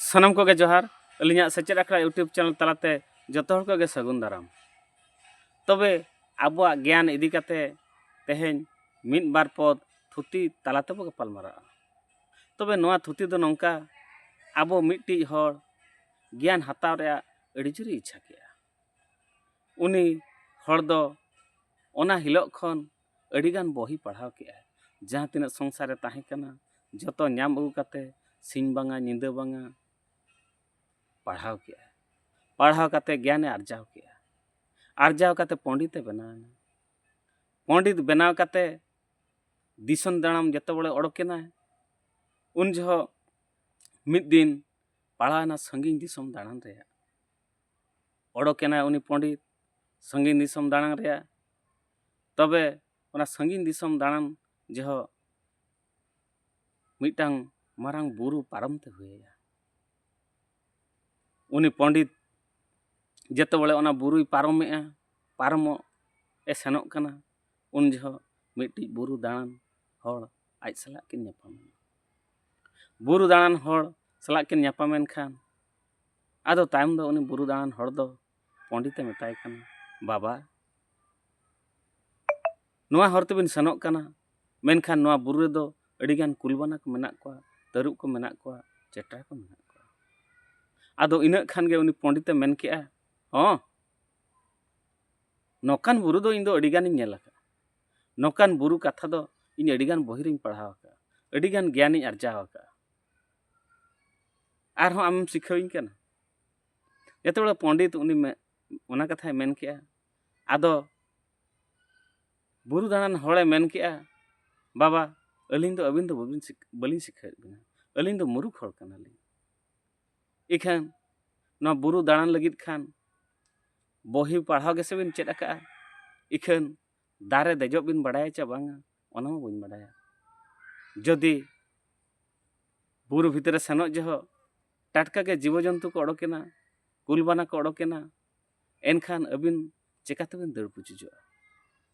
ᱥᱟᱱᱟᱢ ᱠᱚᱜᱮ ᱡᱚᱦᱟᱨ ᱟᱹᱞᱤᱧᱟᱜ ᱥᱮᱪᱮᱫ ᱟᱠᱷᱲᱟ ᱤᱭᱩᱴᱩᱵᱽ ᱪᱮᱱᱮᱞ ᱛᱟᱞᱟᱛᱮ ᱡᱚᱛᱚ ᱦᱚᱲ ᱠᱚᱜᱮ ᱥᱟᱹᱜᱩᱱ ᱫᱟᱨᱟᱢ ᱛᱚᱵᱮ ᱟᱵᱚᱣᱟᱜ ᱜᱮᱭᱟᱱ ᱤᱫᱤ ᱠᱟᱛᱮ ᱛᱮᱦᱮᱧ ᱢᱤᱫ ᱵᱟᱨ ᱯᱚᱫ ᱛᱷᱩᱛᱤ ᱛᱟᱞᱟ ᱛᱮᱵᱚ ᱜᱟᱯᱟᱞᱢᱟᱨᱟᱜᱼᱟ ᱛᱚᱵᱮ ᱱᱚᱣᱟ ᱛᱷᱩᱛᱤ ᱫᱚ ᱱᱚᱝᱠᱟ ᱟᱵᱚ ᱢᱤᱫᱴᱤᱡ ᱦᱚᱲ ᱜᱮᱭᱟᱱ ᱦᱟᱛᱟᱣ ᱨᱮᱭᱟᱜ ᱟᱹᱰᱤ ᱡᱳᱨᱮ ᱤᱪᱪᱷᱟ ᱠᱮᱜᱼᱟ ᱩᱱᱤ ᱦᱚᱲ ᱫᱚ ᱚᱱᱟ ᱦᱤᱞᱳᱜ ᱠᱷᱚᱱ ᱟᱹᱰᱤ ᱜᱟᱱ ᱵᱚᱦᱤ ᱯᱟᱲᱦᱟᱣ ᱠᱮᱜᱼᱟᱭ ᱡᱟᱦᱟᱸ ᱛᱤᱱᱟᱹᱜ ᱥᱚᱝᱥᱟᱨ ᱨᱮ ᱛᱟᱦᱮᱸ ᱠᱟᱱᱟ ᱡᱚᱛᱚ ᱧᱟᱢ ᱟᱹᱜᱩ ᱠᱟᱛᱮ ᱥᱤᱧ ᱵᱟᱝᱟ ᱧᱤᱫᱟᱹ ᱵᱟᱝᱟ ᱯᱟᱲᱦᱟᱣ ᱠᱮᱜᱼᱟᱭ ᱯᱟᱲᱦᱟᱣ ᱠᱟᱛᱮ ᱜᱮᱭᱟᱱᱮ ᱟᱨᱡᱟᱣ ᱠᱮᱜᱼᱟ ᱟᱨᱡᱟᱣ ᱠᱟᱛᱮ ᱯᱚᱸᱰᱤᱛᱮ ᱵᱮᱱᱟᱣᱮᱱᱟ ᱯᱚᱸᱰᱤᱛ ᱵᱮᱱᱟᱣ ᱠᱟᱛᱮ ᱫᱤᱥᱚᱢ ᱫᱟᱬᱟᱱ ᱡᱚᱛᱚ ᱵᱚᱲᱮ ᱚᱰᱚᱠᱮᱱᱟᱭ ᱩᱱ ᱡᱚᱦᱚᱜ ᱢᱤᱫ ᱫᱤᱱ ᱯᱟᱲᱟᱣᱮᱱᱟ ᱥᱟᱺᱜᱤᱧ ᱫᱤᱥᱚᱢ ᱫᱟᱬᱟᱱ ᱨᱮᱭᱟᱜ ᱚᱰᱚᱠᱮᱱᱟᱭ ᱩᱱᱤ ᱯᱚᱸᱰᱤᱛ ᱥᱟᱺᱜᱤᱧ ᱫᱤᱥᱚᱢ ᱫᱟᱬᱟᱱ ᱨᱮᱭᱟᱜ ᱛᱚᱵᱮ ᱚᱱᱟ ᱥᱟᱺᱜᱤᱧ ᱫᱤᱥᱚᱢ ᱫᱟᱬᱟᱱ ᱡᱚᱦᱚᱜ ᱢᱤᱫᱴᱟᱝ ᱢᱟᱨᱟᱝ ᱵᱩᱨᱩ ᱯᱟᱨᱚᱢ ᱛᱮ ᱦᱩᱭᱟᱭᱟ ᱩᱱᱤ ᱯᱚᱸᱰᱤᱛ ᱡᱮᱛᱮ ᱵᱚᱞᱮ ᱚᱱᱟ ᱵᱩᱨᱩᱭ ᱯᱟᱨᱚᱢᱮᱜᱼᱟ ᱯᱟᱨᱚᱢᱚᱜ ᱮ ᱥᱮᱱᱚᱜ ᱠᱟᱱᱟ ᱩᱱ ᱡᱚᱦᱚᱜ ᱢᱤᱫᱴᱤᱡ ᱵᱩᱨᱩ ᱫᱟᱬᱟᱱ ᱦᱚᱲ ᱟᱡ ᱥᱟᱞᱟᱜ ᱠᱤᱱ ᱧᱟᱯᱟᱢᱮᱱᱟ ᱵᱩᱨᱩ ᱫᱟᱬᱟᱱ ᱦᱚᱲ ᱥᱟᱞᱟᱜ ᱠᱤᱱ ᱧᱟᱯᱟᱢᱮᱱ ᱠᱷᱟᱱ ᱟᱫᱚ ᱛᱟᱭᱚᱢ ᱫᱚ ᱩᱱᱤ ᱵᱩᱨᱩ ᱫᱟᱬᱟᱱ ᱦᱚᱲ ᱫᱚ ᱯᱚᱸᱰᱤᱛᱮ ᱢᱮᱛᱟᱭ ᱠᱟᱱᱟ ᱵᱟᱵᱟ ᱱᱚᱣᱟ ᱦᱚᱨ ᱛᱮᱵᱤᱱ ᱥᱮᱱᱚᱜ ᱠᱟᱱᱟ ᱢᱮᱱᱠᱷᱟᱱ ᱱᱚᱣᱟ ᱵᱩᱨᱩ ᱨᱮᱫᱚ ᱟᱹᱰᱤᱜᱟᱱ ᱠᱩᱞᱵᱟᱱᱟ ᱠᱚ ᱢᱮᱱᱟᱜ ᱠᱚᱣᱟ ᱛᱟᱹᱨᱩᱵ ᱠᱚ ᱢᱮᱱᱟᱜ ᱠᱚᱣᱟ ᱪᱮᱴᱟ ᱠᱚ ᱢᱮᱱᱟᱜ ᱠᱚᱣᱟ ᱟᱫᱚ ᱤᱱᱟᱹᱜ ᱠᱷᱟᱱ ᱜᱮ ᱩᱱᱤ ᱯᱚᱸᱰᱤᱛᱮ ᱢᱮᱱ ᱠᱮᱜᱼᱟ ᱦᱚᱸ ᱱᱚᱝᱠᱟᱱ ᱵᱩᱨᱩ ᱫᱚ ᱤᱧ ᱫᱚ ᱟᱹᱰᱤᱜᱟᱱᱤᱧ ᱧᱮᱞ ᱟᱠᱟᱫᱼᱟ ᱱᱚᱝᱠᱟᱱ ᱵᱩᱨᱩ ᱠᱟᱛᱷᱟ ᱫᱚ ᱤᱧ ᱟᱹᱰᱤᱜᱟᱱ ᱵᱚᱦᱤ ᱨᱤᱧ ᱯᱟᱲᱦᱟᱣ ᱟᱠᱟᱫᱼᱟ ᱟᱹᱰᱤᱜᱟᱱ ᱜᱮᱭᱟᱱᱤᱧ ᱟᱨᱡᱟᱣ ᱟᱠᱟᱫᱼᱟ ᱟᱨᱦᱚᱸ ᱟᱢᱮᱢ ᱥᱤᱠᱷᱟᱹᱣᱤᱧ ᱠᱟᱱᱟ ᱡᱚᱛᱚ ᱦᱚᱲ ᱯᱚᱱᱰᱤᱛ ᱩᱱᱤ ᱚᱱᱟ ᱠᱟᱛᱷᱟᱭ ᱢᱮᱱ ᱠᱮᱜᱼᱟ ᱟᱫᱚ ᱵᱩᱨᱩ ᱫᱟᱬᱟᱱ ᱦᱚᱲᱮ ᱢᱮᱱ ᱠᱮᱜᱼᱟ ᱵᱟᱵᱟ ᱟᱹᱞᱤᱧ ᱫᱚ ᱟᱹᱵᱤᱱ ᱫᱚ ᱵᱟᱹᱵᱤᱱ ᱵᱟᱹᱞᱤᱧ ᱥᱤᱠᱷᱟᱹᱣᱮᱫ ᱵᱤᱱᱟ ᱟᱹᱞᱤᱧ ᱫᱚ ᱢᱩᱨᱩᱠᱷ ᱦᱚᱲ ᱠᱟᱱᱟᱞᱤᱧ ᱤᱠᱷᱟᱹᱱ ᱱᱚᱣᱟ ᱵᱩᱨᱩ ᱫᱟᱬᱟᱱ ᱞᱟᱹᱜᱤᱫ ᱠᱷᱟᱱ ᱵᱚᱦᱤ ᱯᱟᱲᱦᱟᱣ ᱜᱮᱥᱮ ᱵᱤᱱ ᱪᱮᱫ ᱟᱠᱟᱜᱼᱟ ᱤᱠᱷᱟᱹᱱ ᱫᱟᱨᱮ ᱫᱮᱡᱚᱜ ᱵᱤᱱ ᱵᱟᱰᱟᱭᱟ ᱪᱮ ᱵᱟᱝᱟ ᱚᱱᱟ ᱦᱚᱸ ᱵᱟᱹᱧ ᱵᱟᱰᱟᱭᱟ ᱡᱩᱫᱤ ᱵᱩᱨᱩ ᱵᱷᱤᱛᱨᱤ ᱨᱮ ᱥᱮᱱᱚᱜ ᱡᱚᱦᱚᱜ ᱴᱟᱴᱠᱟ ᱜᱮ ᱡᱤᱵᱚ ᱡᱚᱱᱛᱩ ᱠᱚ ᱚᱰᱚᱠᱮᱱᱟ ᱠᱩᱞ ᱵᱟᱱᱟ ᱠᱚ ᱚᱰᱚᱠᱮᱱᱟ ᱮᱱᱠᱷᱟᱱ ᱟᱹᱵᱤᱱ ᱪᱮᱠᱟ ᱛᱮᱵᱤᱱ ᱫᱟᱹᱲ ᱯᱩᱪᱩᱡᱚᱜᱼᱟ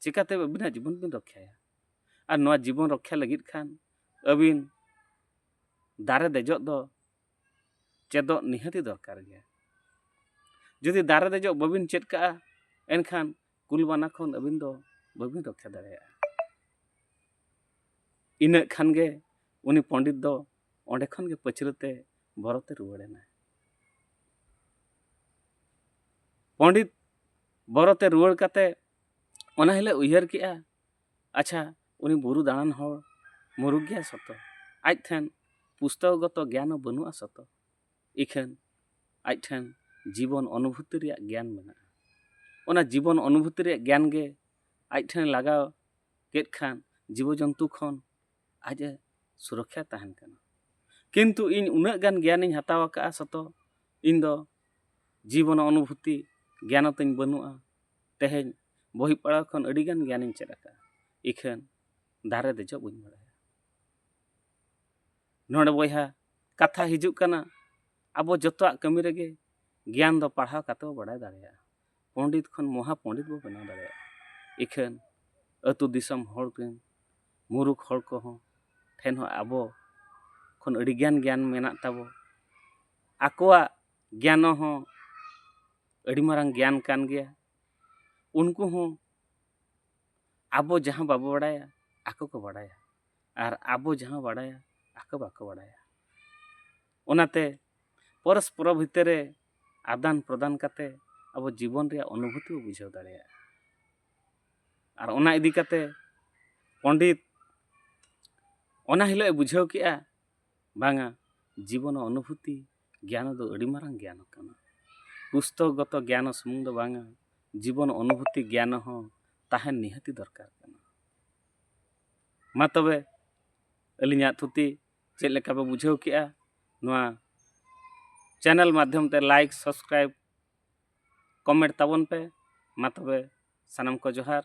ᱪᱮᱠᱟᱛᱮ ᱟᱹᱵᱤᱱᱟᱜ ᱡᱤᱵᱚᱱ ᱵᱤᱱ ᱨᱚᱠᱷᱟᱭᱟ ᱟᱨ ᱱᱚᱣᱟ ᱡᱤᱵᱚᱱ ᱨᱚᱠᱷᱟ ᱞᱟᱹᱜᱤᱫ ᱠᱷᱟᱱ ᱟᱹᱵᱤᱱ ᱫᱟᱨᱮ ᱫᱮᱡᱚᱜ ᱫᱚ ᱪᱮᱫᱚᱜ ᱱᱤᱦᱟᱹᱛᱤ ᱫᱚᱨᱠᱟᱨ ᱜᱮᱭᱟ ᱡᱩᱫᱤ ᱫᱟᱨᱮ ᱫᱮᱡᱚᱜ ᱵᱟᱹᱵᱤᱱ ᱪᱮᱫ ᱠᱟᱜᱼᱟ ᱮᱱᱠᱷᱟᱱ ᱠᱩᱞ ᱵᱟᱱᱟ ᱠᱷᱚᱱ ᱟᱹᱵᱤᱱ ᱫᱚ ᱵᱟᱹᱵᱤᱱ ᱨᱚᱠᱠᱷᱟ ᱫᱟᱲᱮᱭᱟᱜᱼᱟ ᱤᱱᱟᱹᱜ ᱠᱷᱟᱱ ᱜᱮ ᱩᱱᱤ ᱯᱚᱸᱰᱤᱛ ᱫᱚ ᱚᱸᱰᱮ ᱠᱷᱚᱱ ᱜᱮ ᱯᱟᱹᱪᱷᱞᱟᱹ ᱛᱮ ᱵᱷᱚᱨᱚᱛᱮ ᱨᱩᱣᱟᱹᱲ ᱮᱱᱟᱭ ᱯᱚᱸᱰᱤᱛ ᱵᱚᱨᱚᱛᱮ ᱨᱩᱣᱟᱹᱲ ᱠᱟᱛᱮ ᱚᱱᱟ ᱦᱤᱞᱳᱜ ᱩᱭᱦᱟᱹᱨ ᱠᱮᱜᱼᱟ ᱟᱪᱪᱷᱟ ᱩᱱᱤ ᱵᱩᱨᱩ ᱫᱟᱬᱟᱱ ᱦᱚᱲ ᱢᱩᱨᱩᱠ ᱜᱮᱭᱟᱭ ᱥᱚᱛᱚ ᱟᱡ ᱴᱷᱮᱱ ᱯᱩᱥᱛᱚᱠᱚᱜᱚᱛᱚ ᱜᱮᱭᱟᱱ ᱦᱚᱸ ᱵᱟᱹᱱᱩᱜᱼᱟ ᱥᱚᱛᱚ ᱤᱠᱷᱟᱹᱱ ᱟᱡ ᱴᱷᱮᱱ ᱡᱤᱵᱚᱱ ᱚᱱᱩᱵᱷᱩᱛᱤ ᱨᱮᱭᱟᱜ ᱜᱮᱭᱟᱱ ᱢᱮᱱᱟᱜᱼᱟ ᱚᱱᱟ ᱡᱤᱵᱚᱱ ᱚᱱᱩᱵᱷᱩᱛᱤ ᱨᱮᱭᱟᱜ ᱜᱮᱭᱟᱱ ᱜᱮ ᱟᱡ ᱴᱷᱮᱱ ᱞᱟᱜᱟᱣ ᱠᱮᱫ ᱠᱷᱟᱱ ᱡᱤᱵᱚ ᱡᱚᱱᱛᱩ ᱠᱷᱚᱱ ᱟᱡ ᱮ ᱥᱩᱨᱚᱠᱠᱷᱟ ᱛᱟᱦᱮᱱ ᱠᱟᱱᱟ ᱠᱤᱱᱛᱩ ᱤᱧ ᱩᱱᱟᱹᱜ ᱜᱟᱱ ᱜᱮᱭᱟᱱᱤᱧ ᱦᱟᱛᱟᱣ ᱟᱠᱟᱫᱼᱟ ᱥᱚᱛᱚ ᱤᱧ ᱫᱚ ᱡᱤᱵᱚᱱ ᱚᱱᱩᱵᱷᱩᱛᱤ ᱜᱮᱭᱟᱱ ᱛᱤᱧ ᱵᱟᱹᱱᱩᱜᱼᱟ ᱛᱮᱦᱮᱧ ᱵᱚᱦᱤ ᱯᱟᱲᱦᱟᱣ ᱠᱷᱚᱱ ᱟᱹᱰᱤ ᱜᱟᱱ ᱜᱮᱭᱟᱱᱤᱧ ᱪᱮᱫ ᱟᱠᱟᱫᱼᱟ ᱤᱠᱷᱟᱹᱱ ᱫᱟᱨᱮ ᱫᱮᱡᱚᱜ ᱵᱟᱹᱧ ᱵᱟᱲᱟᱭᱟ ᱱᱚᱰᱮ ᱵᱚᱭᱦᱟ ᱠᱟᱛᱷᱟ ᱦᱤᱡᱩᱜ ᱠᱟᱱᱟ ᱟᱵᱚ ᱡᱚᱛᱚᱣᱟᱜ ᱠᱟᱹᱢᱤ ᱨᱮᱜᱮ ᱜᱮᱭᱟᱱ ᱫᱚ ᱯᱟᱲᱦᱟᱣ ᱠᱟᱛᱮ ᱵᱚ ᱵᱟᱰᱟᱭ ᱫᱟᱲᱮᱭᱟᱜᱼᱟ ᱯᱚᱸᱰᱤᱛ ᱠᱷᱚᱱ ᱢᱚᱦᱟ ᱯᱚᱸᱰᱤᱛ ᱵᱚ ᱵᱮᱱᱟᱣ ᱫᱟᱲᱮᱭᱟᱜᱼᱟ ᱤᱠᱷᱟᱹᱱ ᱟᱹᱛᱩ ᱫᱤᱥᱚᱢ ᱦᱚᱲ ᱨᱮᱱ ᱢᱩᱨᱩᱠ ᱦᱚᱲ ᱠᱚᱦᱚᱸ ᱴᱷᱮᱱ ᱦᱚᱸ ᱟᱵᱚ ᱠᱷᱚᱱ ᱟᱹᱰᱤ ᱜᱟᱱ ᱜᱮᱭᱟᱱ ᱢᱮᱱᱟᱜ ᱛᱟᱵᱚ ᱟᱠᱚᱣᱟᱜ ᱜᱮᱭᱟᱱ ᱦᱚᱸ ᱟᱹᱰᱤ ᱢᱟᱨᱟᱝ ᱜᱮᱭᱟᱱ ᱠᱟᱱ ᱜᱮᱭᱟ ᱩᱱᱠᱩ ᱦᱚᱸ ᱟᱵᱚ ᱡᱟᱦᱟᱸ ᱵᱟᱵᱚ ᱵᱟᱰᱟᱭᱟ ᱟᱠᱚ ᱠᱚ ᱵᱟᱰᱟᱭᱟ ᱟᱨ ᱟᱵᱚ ᱡᱟᱦᱟᱸ ᱵᱟᱰᱟᱭᱟ ᱟᱠᱚ ᱵᱟᱠᱚ ᱵᱟᱰᱟᱭᱟ ᱚᱱᱟᱛᱮ ᱯᱚᱨᱚᱥᱯᱚᱨᱚ ᱵᱷᱤᱛᱤᱨ ᱨᱮ ᱟᱫᱟᱱ ᱯᱨᱚᱫᱟᱱ ᱠᱟᱛᱮ ᱟᱵᱚ ᱡᱤᱵᱚᱱ ᱨᱮᱭᱟᱜ ᱚᱱᱩᱵᱷᱩᱛᱤ ᱵᱚ ᱵᱩᱡᱷᱟᱹᱣ ᱫᱟᱲᱮᱭᱟᱜᱼᱟ ᱟᱨ ᱚᱱᱟ ᱤᱫᱤ ᱠᱟᱛᱮ ᱯᱚᱸᱰᱤᱛ ᱚᱱᱟ ᱦᱤᱞᱳᱜ ᱮ ᱵᱩᱡᱷᱟᱹᱣ ᱠᱮᱜᱼᱟ ᱵᱟᱝᱟ ᱡᱤᱵᱚᱱ ᱚᱱᱩᱵᱷᱩᱛᱤ ᱜᱮᱭᱟᱱ ᱫᱚ ᱟᱹᱰᱤ ᱢᱟᱨᱟᱝ ᱜᱮᱭᱟᱱ ᱠᱟᱱᱟ ᱯᱩᱥᱛᱚᱠᱜᱚᱛᱚ ᱜᱮᱭᱟᱱ ᱥᱩᱢᱩᱝ ᱫᱚ ᱵᱟᱝᱟ ᱡᱤᱵᱚᱱ ᱚᱱᱩᱵᱷᱩᱛᱤ ᱜᱮᱭᱟᱱ ᱦᱚᱸ ᱛᱟᱦᱮᱱ ᱱᱤᱦᱟᱹᱛᱤ ᱫᱚᱨᱠᱟᱨ ᱠᱟᱱᱟ ᱢᱟ ᱛᱚᱵᱮ ᱟᱹᱞᱤᱧᱟᱜ ᱛᱷᱩᱛᱤ ᱪᱮᱫ ᱞᱮᱠᱟ ᱯᱮ ᱵᱩᱡᱷᱟᱹᱣ ᱠᱮᱜᱼᱟ ᱱᱚᱣᱟ ᱪᱮᱱᱮᱞ ᱢᱟᱫᱽᱫᱷᱚᱢ ᱛᱮ ᱞᱟᱭᱤᱠ ᱥᱟᱵᱥᱠᱨᱟᱭᱤᱵᱽ ᱠᱚᱢᱮᱱᱴ ᱛᱟᱵᱚᱱ ᱯᱮ ᱢᱟ ᱛᱚᱵᱮ ᱥᱟᱱᱟᱢ ᱠᱚ ᱡᱚᱦᱟᱨ